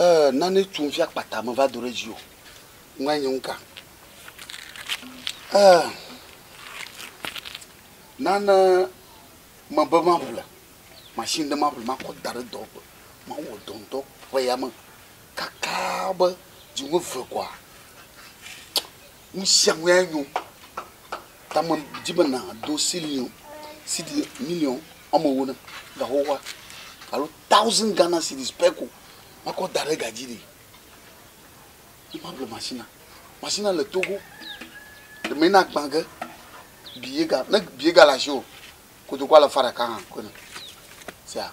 Eee nane tum fi akpata meva do ɖe dzi o. Ŋua nye ŋka. Eee nane mebe maƒle machine ɖe maƒle makɔ da ɖe dɔwɔƒe. Mawɔ dɔ ŋdɔ ƒe ya me kaka be dziwome ve kɔa Nu sia nue nyo. Ta medi be nàdo siliŋ, sidi miliɔn woame ewo nam ga xoxoa alo taoziŋ Ghana silii pɛ ko makɔ da ɖe ga dzi ɖe yi maƒle mashinia. Mashinia le Togo. Ɖe menye na gbã ge bi ye ga, ne bi ye gale asiwò o, kotokua le fa ɖeka hã koe nɔ. Sia.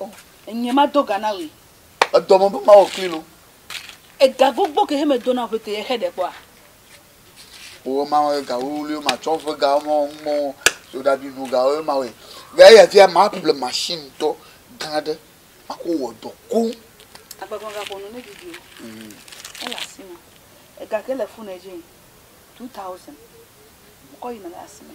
O, enye mado ga na wòe. Edɔ me be mawɔ kpli lo. Ega gbogbo ke he medo na ƒete ye xe ɖe kpɔa? O, ema wɔe ga wuwluiwo matsɔ ƒe ga wɔmɔ ŋmɔ soɖabi nu ga wɔe ma wɔe. Ga eya via ma ple machine tɔ gã ɖe mako wɔ dɔ koŋ. Agbagba ga ƒo nu ne didi o. Ele asi me. Ega ke le fone dzi, two thousand. Mokɔ yi na le asi me.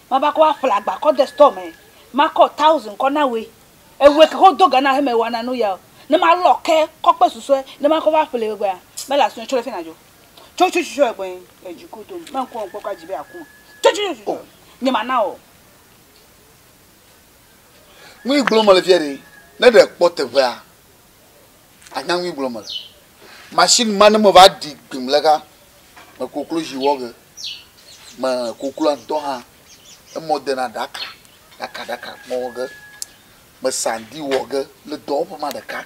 Mava kɔ aƒle agba kɔ de store me. Makɔ thousand kɔ na woe. Ewe ke xo do ga na heme wana nu ya o. Ne malɔ ke kɔ kpe susɔe ne makɔ va ƒle egbea, mele asio tsɔ ɖe fia na dzo. Tso tso tso egbe edzi ko dom. Menku ɔ ŋkpɔ kɔ adzi be aku me. Tso tso tso tso nye ma na ɔ. Nui gblɔ mele fia ɖe ne ɖe kpɔ teƒea Anya ŋui gblɔ mele. Machine ma ne me va ɖi gbim le ka me koklozi wɔ ge me kokloa ŋutɔ hã emɔ dena ɖaka ɖaka ɖaka me wɔ ge me sandi wɔ ge le dɔwɔƒe ma ɖeka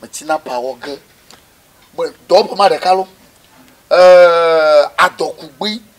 me tina pa wɔ ge me dɔwɔƒe ma ɖeka lo. Eee adɔkugbui.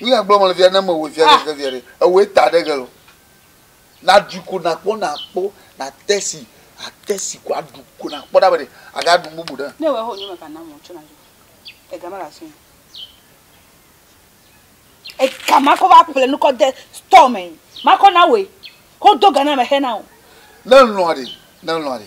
Nuya gblɔ mele via ne me wɔ via ɖe via ɖe ewɔ eta ɖe gelo. Na ɖui ko na kpɔ na kpɔ na tɛsi a tɛsi ko a ɖu ko na kpɔ ɖa be a ga ɖu bubu ɖe. Ne wɔ ho nyɔme kana mo tsɔ na jo. E gama la sin. E gama ko va ple nu ko de store me. Ma ko na we. Ko do gana me he na o. Ne lɔ de ne lɔ de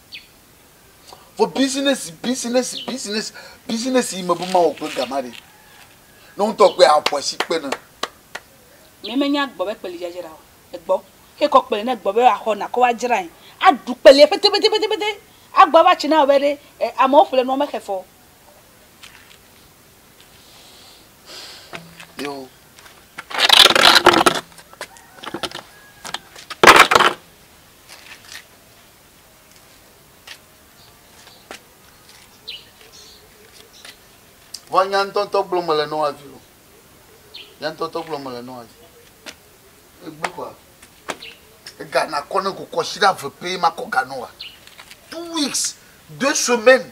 Vɔ bizinɛsi, bizinɛsi, bizinɛsi, bizinɛsi yi mebe mawɔ kple gama ɖe, ne woŋtɔ kpɔe aƒo asi kpe nam. Mɛ menya gbɔ be kpeli dzadzra o. Egbɔ. Ekɔ kpeli ne gbɔ be axɔ nakɔ wa dzrae. Aɖu kpelia petepetepetepete. Agbɔ ava tsi na wɔ be ɖe e amewo ƒle nua mexe fɔ. Yo. Vɔ nya ŋutɔŋutɔ gblɔm mele nɔ avi o. Nya ŋutɔŋutɔ gblɔm mele nɔ avi. Egbe kɔa. Ega nakɔ ne kokɔ si ɖe ave pɛ makɔ ga nɔ wa. Two weeks, deux semaines.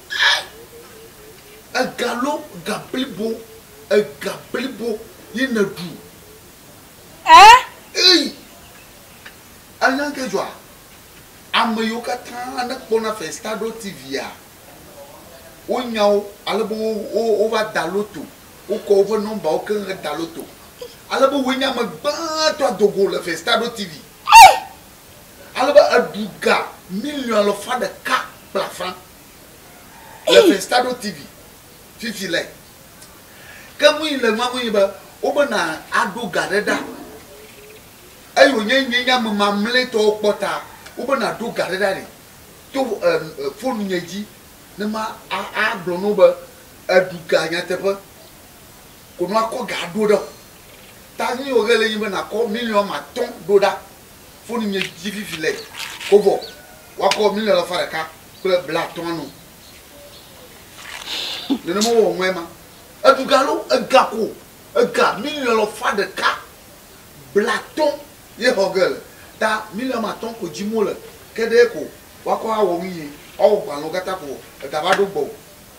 Ega lo ga blibo ega blibo ye ne ɖu. E. Eyi anya ŋke dzɔa ame yiwo katã ne kpɔna festaɖo tivia wo nyawo ale be wo wo wova da loto wo kɔ woƒe nɔmbawo keŋ he da loto ale be woe nye ame gbãtɔ adogo le festaɖo tivi. Ale be eɖu ga miliɔn alafa ɖeka kple afã le Penstado TV fifi le. Ke nu yi le nua ŋu nye be, wobe na aɖo ga ɖe ɖa eye wònye nye nye ame mamlɛtɔwo kpɔ ta wobe na ɖo ga ɖe ɖa nɛ to fonu nye dzi ne ma a a gblɔ no be eɖu ga nyateƒe ko no akɔ ga aɖo ɖe o. Ta nu yi wòge le nye be nakɔ miliɔn ame atɔ̃ ɖo ɖa. foni nye dzi vivi le kobo wakɔ mile alafa ɖeka kple bla atɔa nu. Nenema wowɔ ŋue ma. Eɖu ga alo ega ko ega mile alafa ɖeka bla atɔ ye xɔ ge le. Ta mile ame atɔ ko dzim wole ke ɖee ko wakɔ awɔ nu ye. Woawɔ gbalẽwo kata ko ega va ɖo gbɔo.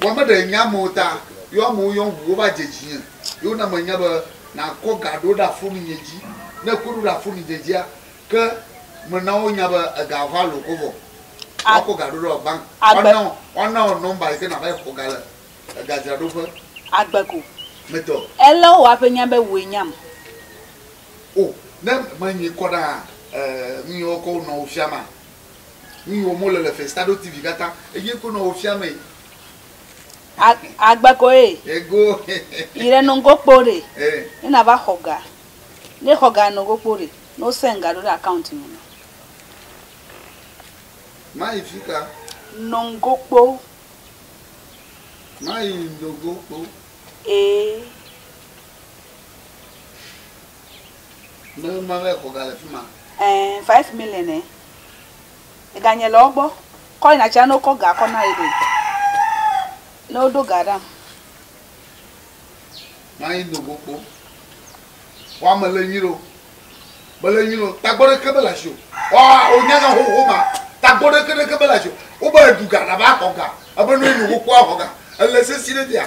Vɔ me ɖe nya amewo ta, yo amewo yɔm ŋu wova dze dzinye, ye wona menya be nakɔ ga ɖo ɖe afuni nye dzi. Ne ekɔe ɖo ɖe afuni nye dzia, ke mena wo nya be ega va lo ko vɔ woakɔ ga ɖo ɖe bank woana wo woana wo nɔmba yike nava yi xɔ ga le egadzraɖoƒe. Agbe ko. Me tɔ. Ele wò aƒe nya be wòe nyam. O, ne menyi kɔ ɖaa, e, nu yi wokɔ wonɔwo fia ma, Nu yi wɔm wole le Festado TV katã, eye koe nɔ wo fia mee. A, agba ko ye. Ego. Yi ɖe nɔngo kpo ɖe. E. Ne na va xɔ ga. Ne xɔ ga nɔngo kpo ɖe. Ne wo send ga ɖo ɖe account me na. Ma yi fika. Nɔngo kpo. Ma yi nɔngo kpo. E. Mele nua be xɔ ga le fima. Eeh five million eh ega nye le wogbɔ kɔ yina tsia ne wokɔ ga kɔ na yede ne woɖo ga ɖam. Mayi nogo kpo wa mele nyuiɖeo mele nyuiɖeo tagbɔ ɖeke mele asio wa wo nya nya xoxo ma tagbɔ ɖeke ɖeke mele asio wo be eɖu ga na va xɔ ga ebe ne woyi nogo kpo wa xɔ ga ele sesi ɖe fia